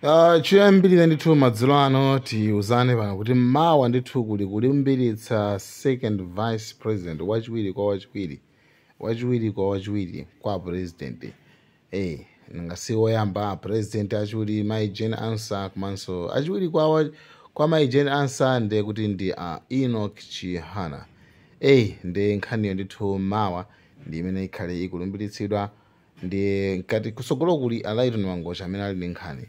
Ah, chiyambirire ndithu madzulo ano tiuzane pano kuti mawa ndithu kuli kulumbiritsa second vice president wachiwiri kwa wachiwiri kwa president eh ngasi woyamba president achiwiri mai Jane Ansah komanso achiwiri kwa wa, kwa mai Jane Ansah ndiye kuti ndi a Enoch Chihana eh ndi nkhaniyo ndithu mawa ndi imene ikhale ikulumbiritsidwa Ndiye mkati kusogolo kuli Alaitoni Mangocha amene ali ndi nkhani.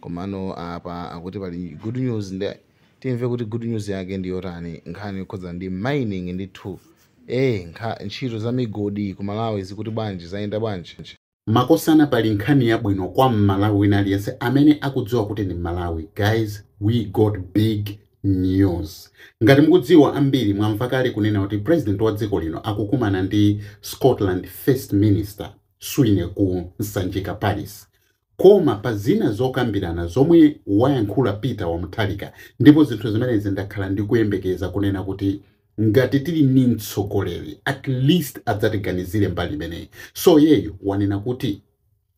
Komano apa akuti pali good news nde timve kuti good news yake ndi yotani nkhani yokhudza ndi mining ndithu. Eh nkha ntchito za migodi ku Malawi zikuti bwanji zayenda bwanji? Makosana pali nkhani yabwino kwa m'Malawi wina aliyense amene akudziwa kuti ndi m'Malawi. Guys we got big news ngati mukudziwa ambiri mwamva kale kunena kuti president wa dziko lino akukumana ndi scotland first minister Swinney ku Sanjika palace koma pa zina zokambirana zomwe wayankhula peter wa Mutharika ndipo zinthu zimenezi ndakhala ndikuyembekeza kunena kuti ngati tili ndi mtsogoleri at least adzatiganizire mbali imeneyi so yeyu wanena kuti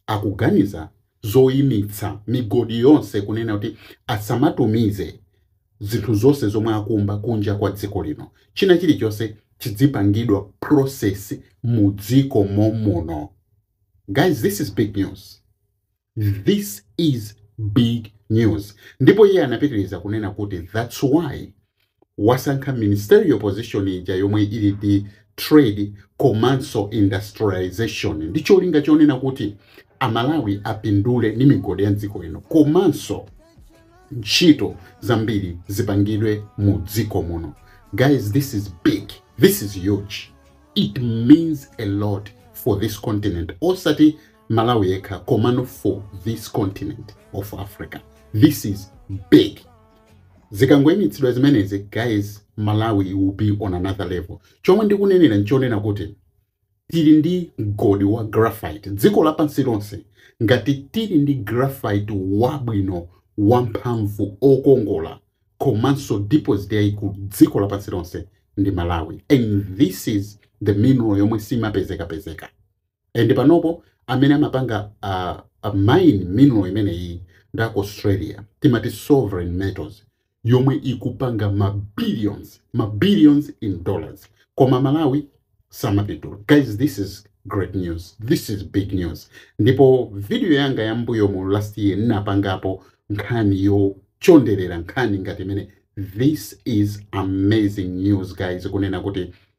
akuganiza zoimitsa migodi yonse kunena kuti asamatumize zinthu zonse zomwe akumba kunja kwa dziko lino. China chilichonse chidzipangidwa process mu dziko momuno. Guys, this is big news. This is big news. Ndipo iye anapitiriza kunena kuti that's why wasankha ministerial position ija yomwe ili ndi Trade komanso Industrialisation ndi cholinga chonena kuti a Malawi apindule ndi migodi ya mdziko lino komanso ntchito zambiri zipangidwe mu dziko muno. Guys, this is big. This is huge. It means a lot for this continent. Osati Malawi yekha komano for this continent of Africa. This is big. Zikangoimitsidwa zimenezi guys Malawi will be on another level. Chomwe ndikunenera nchonena kuti tili ndi mgodi wa graphite dziko lapansi lonse ngati tili ndi graphite wabwino wamphamvu okongola komanso deposit yaikulu dziko lapansi lonse ndi Malawi and this is the mineral yomwe simapezekapezeka. And panopo amene amapanga a, a mine mineral imeneyi ndi aku Australia timati sovereign metals yomwe ikupanga ma billions ma billions in dollars koma Malawi samapindula guys this is great news this is big news ndipo video yanga ya mbuyo mu last year ndinapangapo nkhani yochonderera nkhani ngati imene this is amazing news guys kunena kuti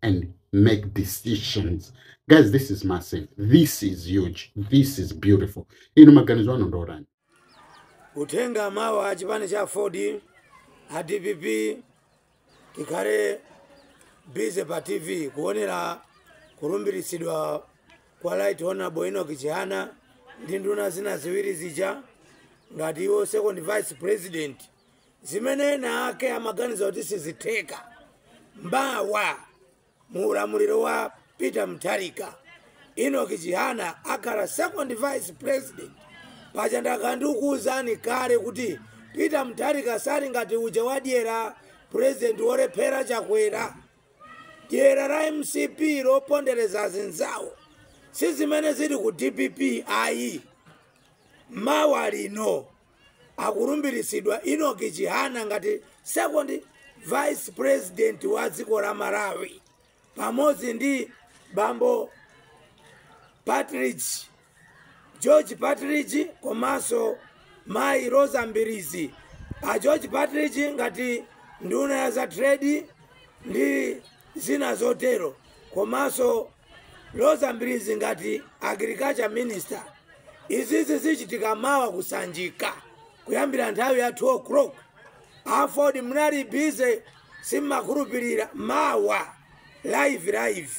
and make decisions guys this is massive this is huge this is beautiful inu maganizo anu ndotani uthenga mawa a chipani cha aford a dpp tikhale busy pa tv kuonera kulumbiritsidwa kwa right honorable enoch chihana ndi nduna zina ziwiri zija ngati iwo second vice president zimene ena ake amaganiza kuti sizitheka mawa mu ulamuliro wa peter mutharika enoch chihana akhala second vice president paja ndakhala ndikukuwuzani kale kuti peter mutharika sali ngati uja wadyera president wolephera chakwera dyera la mcp lopondereza azinzawo si zimene zili ku dpp ayi mawa lino akulumbiritsidwa enoch chihana ngati second vice president wa dziko la malawi pamodzi ndi bambo partridge george partridge komanso mayi roza mbilizi a george partridge ngati nduna ya za trade ndi zina zotero komanso Roza Mbilizi ngati agriculture minister izizi zichitika mawa kusanjika kuyambira nthawi ya 2 o'clock aford mnali busy simmakhulupirira mawa live live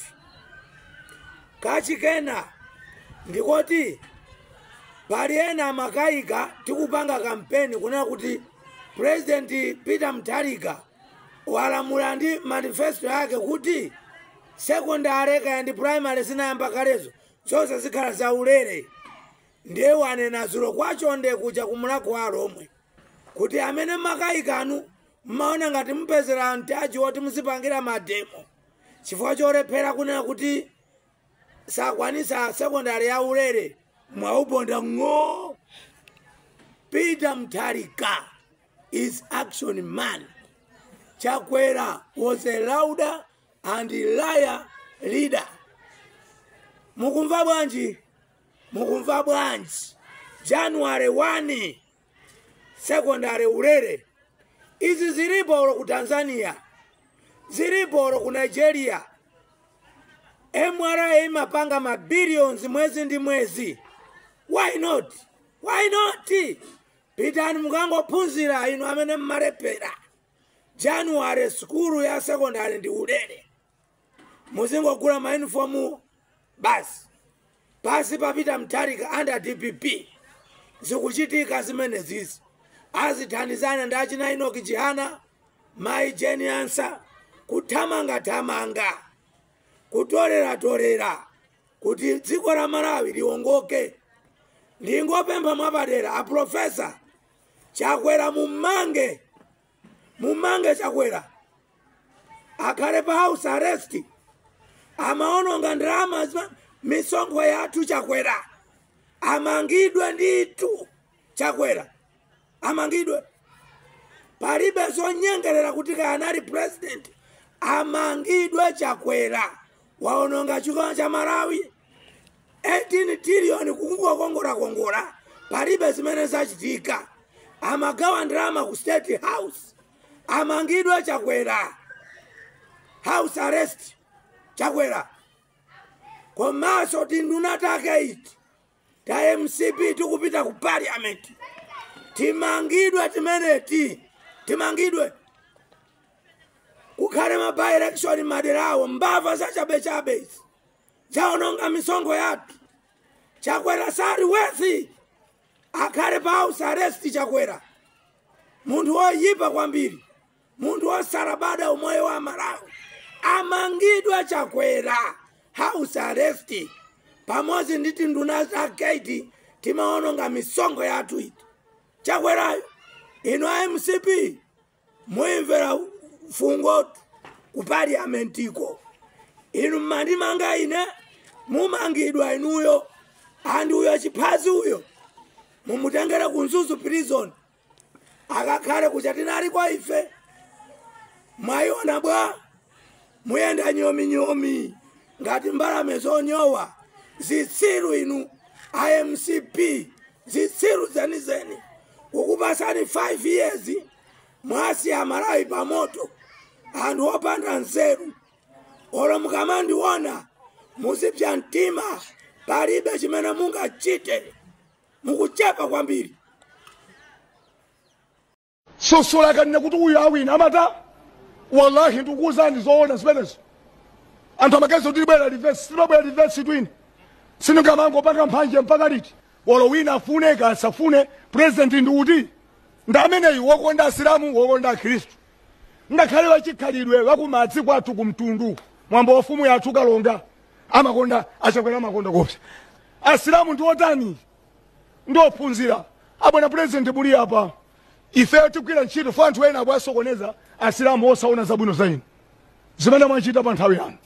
kachikena ndikoti pali ena amakayika tikupanga kampeni kunena kuti president peter mutharika walamula ndi manifesto yake kuti Secondary kaya ndi primary zinayamba kalezo zonse zikhala zaulere ndiye wanena dzulo kwa chonde kuja ku mulhako wa alhomwe kuti amene makayikanu mmaona ngati mupezera mtaji woti muzipangira mademo chifukwa cholephera kunena kuti sakwanisa sekondari ya ulere mwauponda ng'o peter mutharika is action man chakwera was a louder and liar leader mukumva bwanji mukumva bwanji january 1 sekondari ulere izi zilipo olo ku tanzania zilipo olo ku nigeria mra imapanga mabilions mwezi ndi mwezi why not why not pitani mukangophunzira inu amene mmalephera january sukulu ya sekondari ndi ulere muzingogula mayunifomu basi pansi pa Peter Mutharika under dpp zikuchitika zimene zizi azithandizana ndi achina Enoch Chihana mayi Jane Ansah kuthamangathamanga kutoleratolera kuti dziko la malawi liwongoke ndingopempha mwapadera aprofesa chakwera mummange mummange chakwera akhale pa house arrest amaononga ndalama za misonkho yathu chakwera amangidwe ndithu chakwera amangidwe palibe zonyengerera kuti kaya anali president amangidwe chakwera waononga chuma cha malawi 18 trillion kungokongolakongola palibe zimene zachitika amagawa ndalama ku state house amangidwe chakwera house arrest chakwera komanso tinduna take iti ta mcp tikupitatu ku parliament timangidwe timeneti timangidwe kukhale ma by election madera awo mbava zachabechabe izi waononga misonkho yathu chakwera sali worthy akhale pa house arrest chakwera munthu woyipa kwambiri munthu wosalabada umoyo wa amalawi amangidwe chakwera house arrest pamodzi ndi tinduna take iti timaononga misonkho yathu iti chakwerayo inu a mcp muimvera fungotu ku paliamentiko inu mmandimanga ine mumangidwa inuyo andi uyo chiphazi uyo mumutengere ku mzuzu prison akakhale kuchatinali kwa ife mwaiona bwa muyenda nyominyomi ngati mbalame zonyowa zitsiru inu a mcp zitsiru zenizeni kukupatsani 5 years mwasiya amalawi pamoto anthu opanda nzeru olo mukamandiona muzipsa mtima palibe chimene mungachite mukuchepa kwambiri sosola akanena kuti uyu awina amata wallahi ndikuuzani zoona zimenezo anthu amagazi kuti libwera reverse silibwera reverse twini singamangopanga mphanje mpaka liti wolo wina afune kasafune purezidenti ndi uti ndi ameneyu wokonda asilamu wokonda akhristu ngakhale wachikhalidwe wakumadzi kwathu kumtundu mwambo wamfumu yathu kalonga amakonda achakwera amakonda kopsa asilamu ndi otani ndi ophunzira abwana President muli apa ifeyo tigwira ntchito for anthu ena akuwasokoneza asilamu osaona zabwino za inu zimene mwachita pa nthawi yanu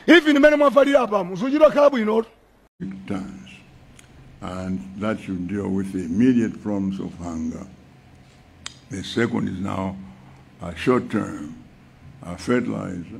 even imene mwavalira apa muzichita kukhala bwinotu times, and that should deal with the immediate problems of hunger. The second is now a short term, a fertilizer,